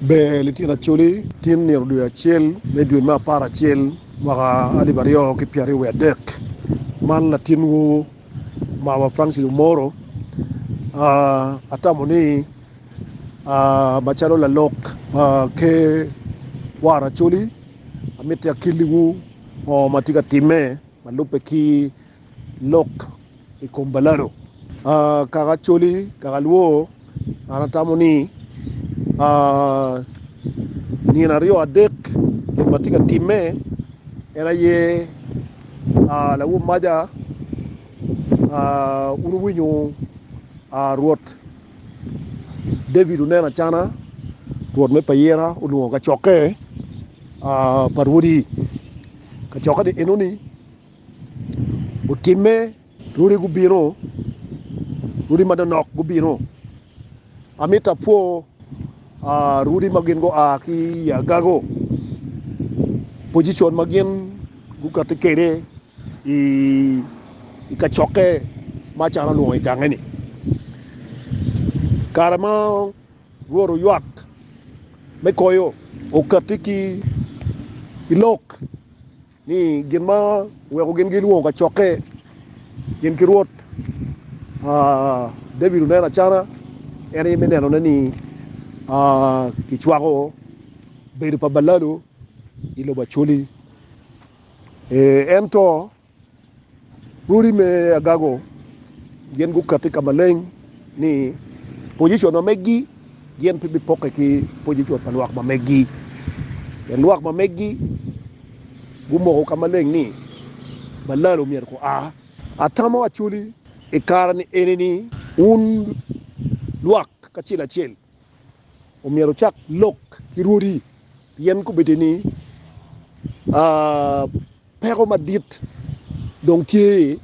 Ber litino Acholi tin nino dwe acel me dwe me apar acel mwaka alip aryo ki pyera ryo wiadek man latinwu mama Francis Omoro atamo ni macalo lalok pa ker war Acholi amiti akilliwu ngo matye ka timme malube ki lok i kom balado. Aa, kaka Acholi, kaka Alwor, an atamo ni, aa, nino aryo adek gin ma tye ka timme en aye, aa, lawomaja, aa, wun wuwinyo, aa, Rwot David oneno acana rwot me payira olwongo kacokke, aa, pa rwodi, kacokke-ni enoni. Otimme, lwoddi gubino, lwoddi manonok gubino. Amito apwo lwoddi ma gin gua ki i agago, pojicon ma gin gukati kwede i kacokke ma acalo alwongo i gange-ni. Kare ma Rwot oywak me koyo, okatti ki lok. Ni gin ma oweko gin gilwongo kacokke gin ki Rwot. David oneno acana en aye me nenone ni kicwako bedo pa balalo i lobo Acoli. Ento. Odi me agago gin gukati ka maleng ni pojicon ma meggi gin pe bipokke ki pojicon pa lwak ma meggi. Pien lwak ma meggi gumoko ka maleng ni balal omyero ku a. Atamo Acholi i kare-ni eni ni wun lwak kacel acel, omyero wucak lok ki rwodi, pien kobedo ni peko madit dong tye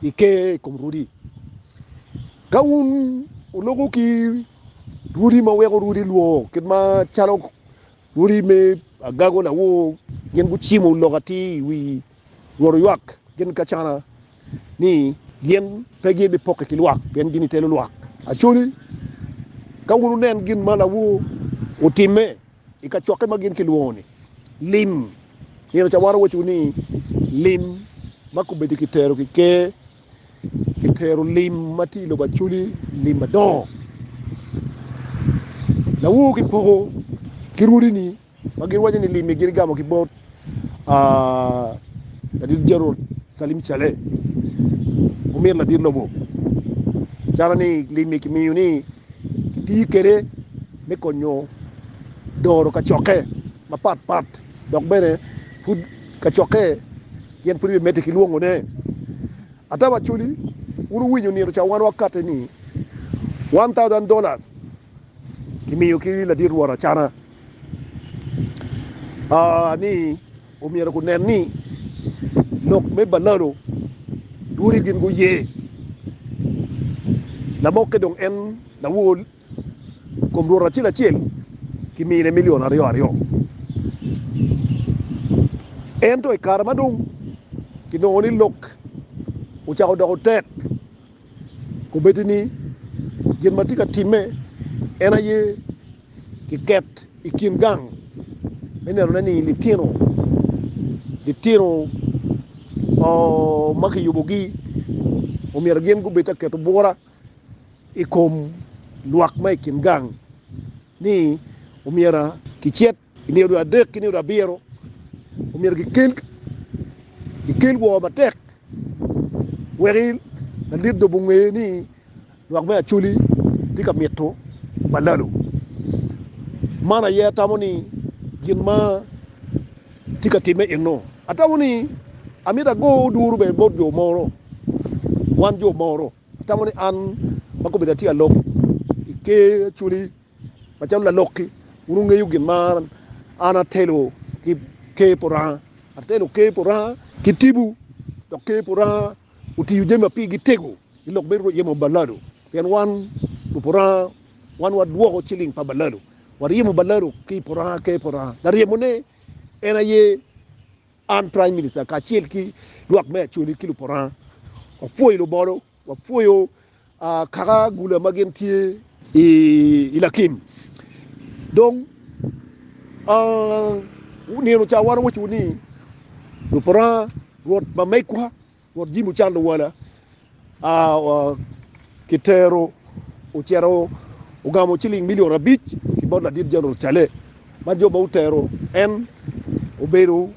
i ker i kom rwodi. Ka wun wuloko ki rwodi ma weko rwodi lwo kit macalo rwodi me agago lawor gin gucimo lok atir i wi Lworo ywak gin kacana ni gin pe gibipokke ki lwak, pien gin itelo lwak. Acholi, ka wun wunen gin ma lawo otimme i kacokke ma gin kilwongo-ni lim, nino ca wan owacowu ni, lim ma kubeddi kitero ki ker, kitero lim ma tye i lobo Acholi, lim madongo. Lawowu gipoko ki rwodi-ni. ma gin waco ni limi gin igamo ki bot ladit Gerald Salim Cale omyero ladit lobo calo ni limi ki miyo ni ki tiyo kwede me konyo doro kacokke ma pat pat dok bene pud kacokke gin pud bi mede ki lwongo ne ata wa coli wun owinyo nino ca wan wa kate ni one thousand dollars kimiyo ki ladit rwot acana ni omyero gunen ni lok me balalo ducu gin guye lamokke dong en lawol kom rwot acel acel kimine milion aryo aryo ento i kare ma dong kinongo ni lok ocako doko tek Obed ni gin ma tye ka timme en aye kiket i kin gang me nenone ni litino litino ma kiyubogi omyero gin gubed ka keto bwura i kom lwak ma i kin gang ni omyero kicit I nino dwe adek ki nino dwe abiro omyero gikel woo matek wek lalit lobo onge ni lwak me Acholi tye ka mito balalo. Man aye atamo ni gin ma tye ka timme eno. Atamo ni amito ago duru bene bot jo mono, wan jo mono. Atamo ni an ma kombedda tye ka lok i Ker Acholi. Macalo lalok-ki, wun wungeyo gin ma an atelo ki Ker pa Oranga. Atelo Ker pa Oranga ki tipo, dok Ker pa Oranga otiyo jami ma pigi tego i lok me ryemo balado, pien wan lubo Oranga, wan wadwoko ciling pa balado, waryemo balado ki i pa Oranga, Ker pa Oranga. Laryemone en aye an, Prime Minister, kacel ki lwak me Acholi ki lubo Oranga. Wapwoyo lubolo. Wapwoyo kaka gula ma gin tye i lakim. Dong nino ca wan owaco ni, Rwop Oranga, Rwot ma megwa, Rwot jami ocando wala, kitero ocito ogamo ciling milion abic ki bot ladit Jeneral Cale ma jo ma otero en obedo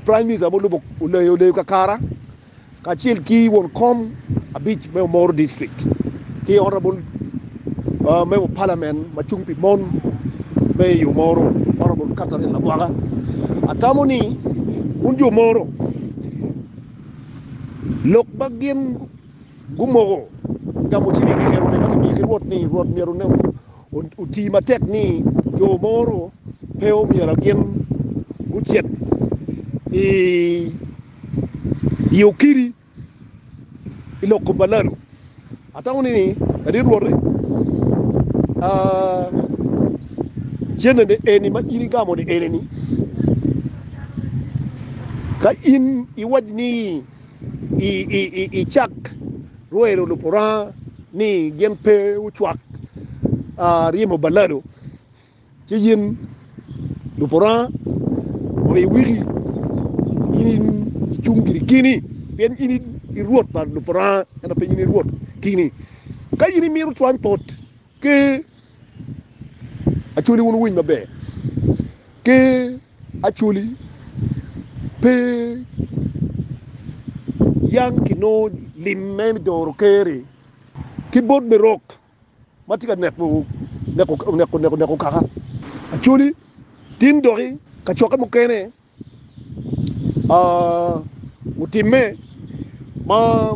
Prime Minister ma olubo oleyo kakara kacel ki won kom abic me Omoro District ki Honourable Member of Parliament ma cung pi mon me i Omoro Honourable Catherine Lagwaka. Atamo ni wun jo Omoro lok ma gin gumoko gamo ciling i nge Rwot ni Rwot myero oti matek ni jo mono pe omyero gin gucit i okiri i lok kom balalo. Atango ni ladit Rwot-ti, cente eni ma in igamo-ni eni-ni, ka in iwac ni icak. Rwel olubo Oranga ni gin pe wucwak ryemo balado ci yin lubo Oranga wa i wiki in icung giri kini pien in i Rwot pa lubo Oranga ento pe in i Rwot kini. Ka in imito cwany pot ki acoli wun wuwiny maber ki Actually pe yam kinongo lim me doro Ker-ri ki bot Berok ma tye ka neko kaka. Actually tin dok i kacokke mukene otimme ma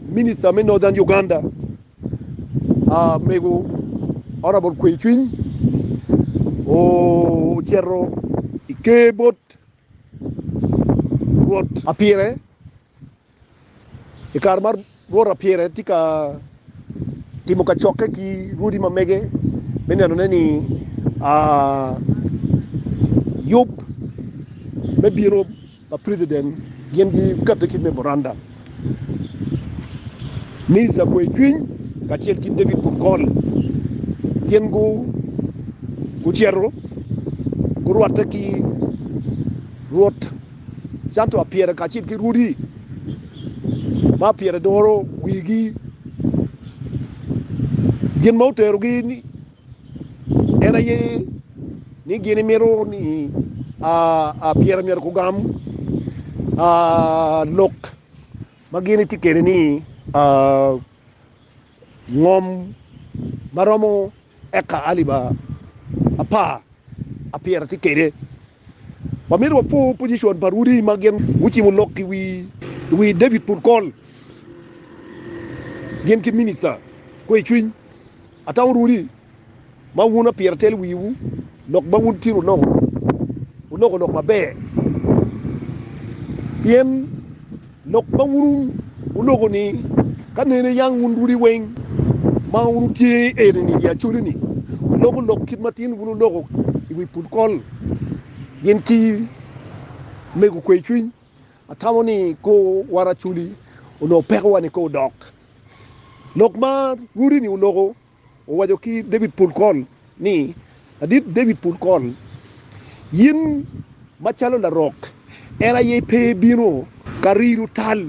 Minista me Northern Uganda, ah, mego honorable kwe cwiny ocito i ker bot rwot apire i kare ma rwot apire tye ka timo kacokke ki rwodi ma mege me nenone ni ah, yub me bino ma president gin gi kate ki memorandum Mister Kwe Cwiny kacel ki David Kongol gin gu gucito gurwatte ki Rwot canto apyere kacel ki rwodi ma apyere doro wigi gin ma oterogi ni En aye ni gin imito ni pire myero gugam lok ma gin itye kwede ni ngom ma romo eka alip apar apiro tye kwede. Wamito wapo pozicon pa rwodi ma gin gucimo lok i wi David Purcol gin ki Minista kwe cwiny. Atamo rwodi ma wun apira telo wiwu lok ma wun tin wuloko, wuloko lok maber pien. Lok ma wun wuloko-ni, Ka nene yang wun dudi weng ma wutye eni-ni i acoli-ni, wuloku lok kit matin wun wuloko i wi pul kol, gin ki mego kwe cwiny. Atamo ni kor war acoli onongo pekowa ni kor dok lok ma rudi-ni oloko. Owaco ki David pol kony ni, Adit David pol kony, in macalo larok en aye pe ibino ka riro tal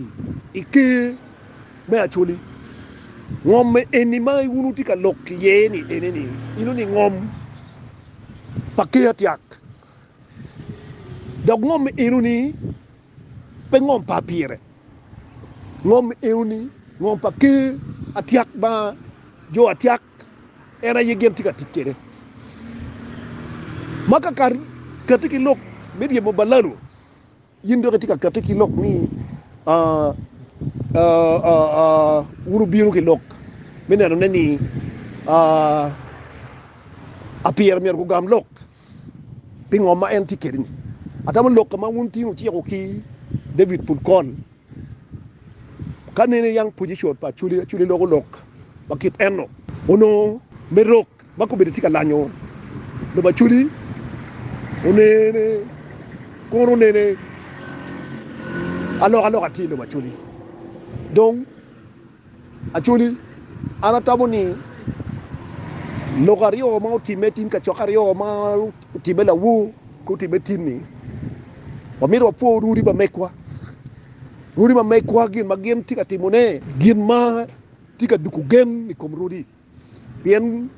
i ker me acoli. Ngom eni ma wun wutye ka lok iye ni enini inongo ni ngom pa ker atyak, dok ngom enoni Pe ngom pa pire. Ngom eo ni ngom pa ker atyak ma jo atyak en aye gin tye ka tic kede. Ma ka kar kati ki lok me ryemo balalo yin dok itye ka kati ki lok ni wun wubino ki lok me neno ne ni apire myero gugam lok. pi ngom ma en tye kwede-ni. Atamo lok ka ma wun tin wuciko ki David Pulcon ka nene young position pa Acholi. Acholi loko lok ma kit eno. Onongo me rok ma kobedi tye ka lanyo lobo Acholi onene kono onene alokaloka tye i lobo Acholi. Dong Actually, an atamo ni lok aryo ma otimme tin kacokke aryo ma otimme lawor ki otimme tin ni wamito wapwor rwodi ma megwa. Rwodi ma megwa gin ma gin tye ka timone gin ma tye ka duko gen i kom rwodi. pien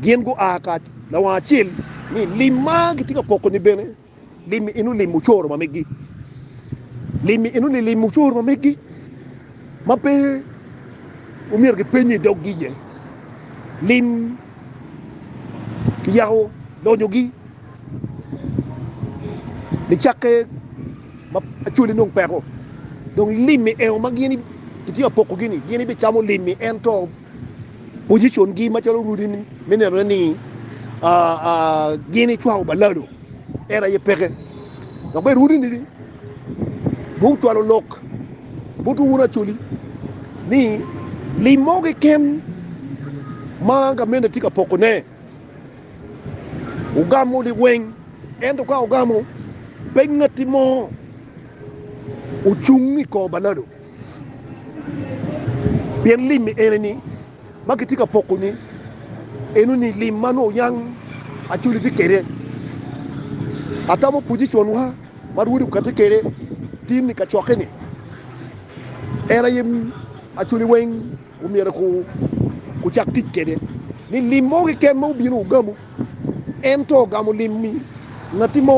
gin gua ka lawang acel, ni lim ma gitye ka poko ni bene lim ni inu lim ocoro ma megi, lim ni inu ni lim ocoro ma megi ma pe omyero ki penye i doggi iye, lim ki yako lonyogi. Bicakke ma cwali nongo peko, dong limi engo ma gin itye ka pokogi-ni, gin ibicamo limi ento pocicongi macalo orudi me nenone ni gin icwako balalo en aye peke. Dok bene orudini dong ocwalo lok botwu wun acwali ni lim mo keken ma gamente tye ka pokone. Wugamo liweng, ento ka wugamo, pe ngatti mo ocung i kor balado. Pien lim ni eni ni ma kitye ka poko ni eno ni lim ma nongo yang Acholi tye kede. Atamo position wa ma Rwodi okati kede tin ni kacokke ni en aye Acholi weng Omyero kucak tic kede ni lim mo keken ma obino ogamu, ento ogamo lim ni ngatti mo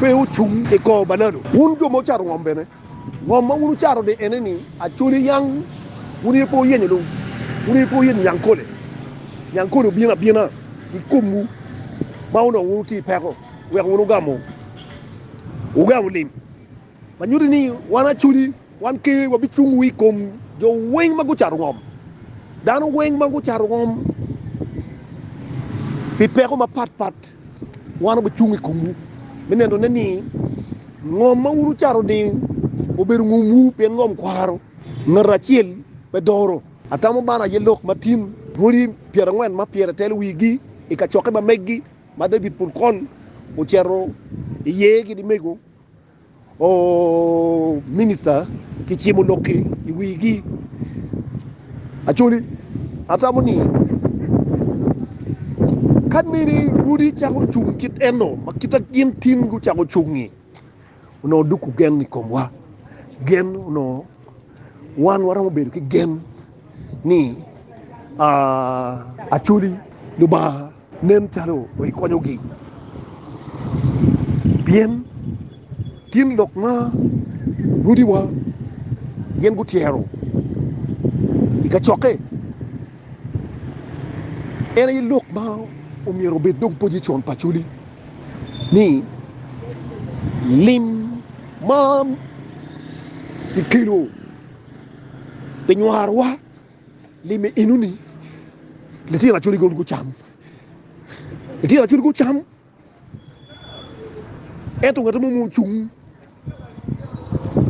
pe ocung i kor balado. Wun jo ma wucato ngom bene, ngom ma wun wucato ni ene ni Acholi yang, wun aye pe wuyenyo dong, wun aye pe wuyenyo Nyankole. Nyankole obino abina i komwu ma onongo wun wutye i peko wek wun wugamu lim. ma nyuti ni wan acoli wan kene wabicung wa i kom jo weng ma gucato ngom, dano weng ma gucato ngom pi peko mapat pat, wan wabicung i komwu me nenone ni ngom ma wun wucato ni obedo ngomwu, pien ngom kwaro, ngat acel pe doro. Atamo bano aye lok ma tin boti pyerangwen ma pyere telo wigi i kacokke ma megi ma David pol kol ocito iye ki dimego. Minista ki cimo lok ki i wigi. Acholi, atamo ni kadi bed ni odi cako cung kit eno ma kit ma gin tin gucako cung-ngi, onongo duk wugen i komwa. Gen onongo wan waromo bedo ki gen ni Acholi, Lubanga, Nen calo pe ikonyogi pien gin lok ma ludiwa gin gutyero i kacokke. En aye lok ma omyero obed dong pojicon pa Acholi ni lim ma kikelo pi nywarowa, Li me enoni litino acwali goni gucam, litino acwali gucam, ento ngati mo ma ocung,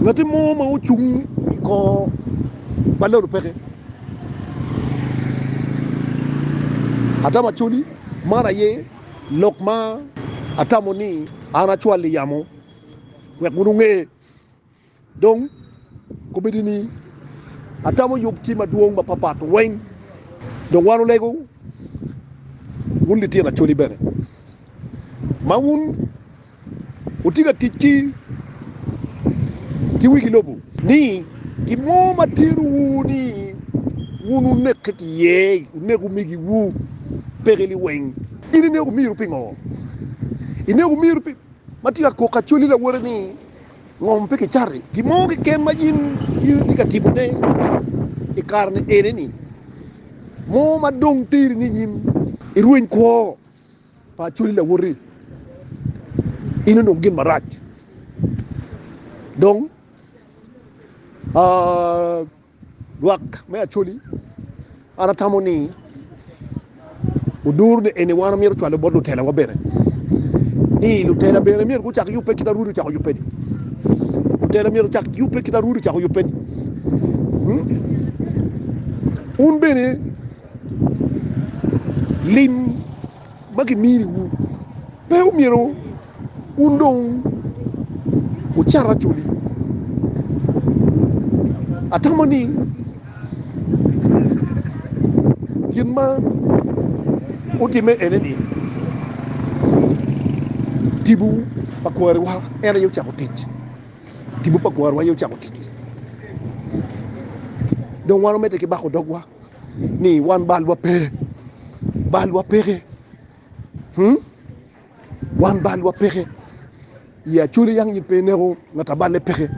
ngati mo ma ocung i kor ma lalo peke, atamo acwali, man aye lok ma atamo ni an acwali yamo wek wun wunge. Dong, komedi ni atamo yub ci madwong mapapat weng. Dong wan olego, wun litino Acholi bene, ma wun wutye ka tic ki ki wigi lobo. Ni, gin mo ma terowu ni wun wunekke ki iye, wunek omigiwu, peke liweng. In inego omiru pingo? Inego omiru pi ma tye ka kok Acholi lawote ni, Ngom pe kicato i gin mo keken ma in itye ka timone i kare-ni enini, mo ma dong teri ni in irweny kwo pa Acholi lawoti. In onongo gin marac dong. Lwak me Acholi, An atamo ni odur ni eni wan omyero ocwale bot lutelawa bene ni lutela bene myero gucak yubbe kit ma Rwodi ocako yubbe-ni. Lutela myero ocak yubbe kit ma Rwodi ocako yubbe-ni. Hmm? Wun bene lim ma kiminiwu pe omyero Wun dong wucato acoli. Atamo ni gin ma wutimme ene ni, Tipo pa kwariwa en aye ocako tic. Tipo pa kwariwa aye ocako tic. Dong wan wamedde ki bako dogwa ni wan balwa pe, balwa peke. Wan balwa peke i Acholi yang in pe ineko ngat a balle peke.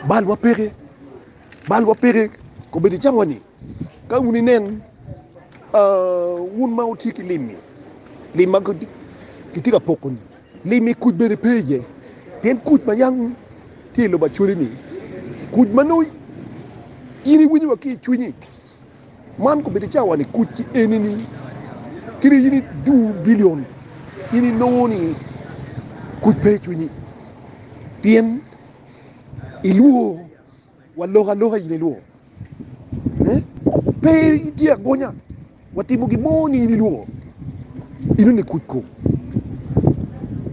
Balwa peke, balwa peke kobedo i cawa ni ka wun inen uh, wun ma wutye ki lim-mi, lim ma kitye ka poko-ni, lim-mi kuc bene pe iye, pien kuc ma yang tye i lobo Acholi-ni, kuc ma nongo in iwinyo wa ki i cwinyi. Man kobedo i cawa ni kuc eni ni kadi in idu bilion in inongo ni kuc pe i cwinyi pien ilwor wa lok aloka in ilwor pe itye agonya wa timo gin mo ni in ilwor ino ni kuc ko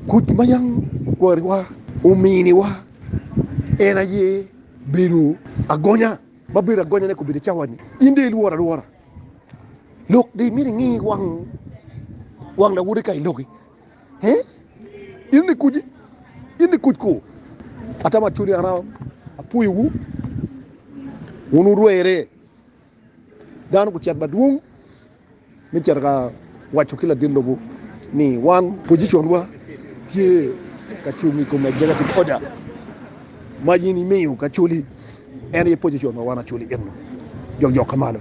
kuc ma yam kwariwa ominiwa en aye bedo agonya. Ma bedo agonyane kobedo i cawa ni, in dong ilworo alwora lok dong imito ingi wang wang lawoti ka i loki he? In ni kuji, in ni kuj kor. Atamo acodi aram apuyowu wun wurwere dano gucet madwong. me cito ka waco ki ladit lobo ni wan pociconwa tye ka cung i kom executive order ma in imiyo kacoli, en aye pocicon ma wan acoli eno, jokjok ka malo.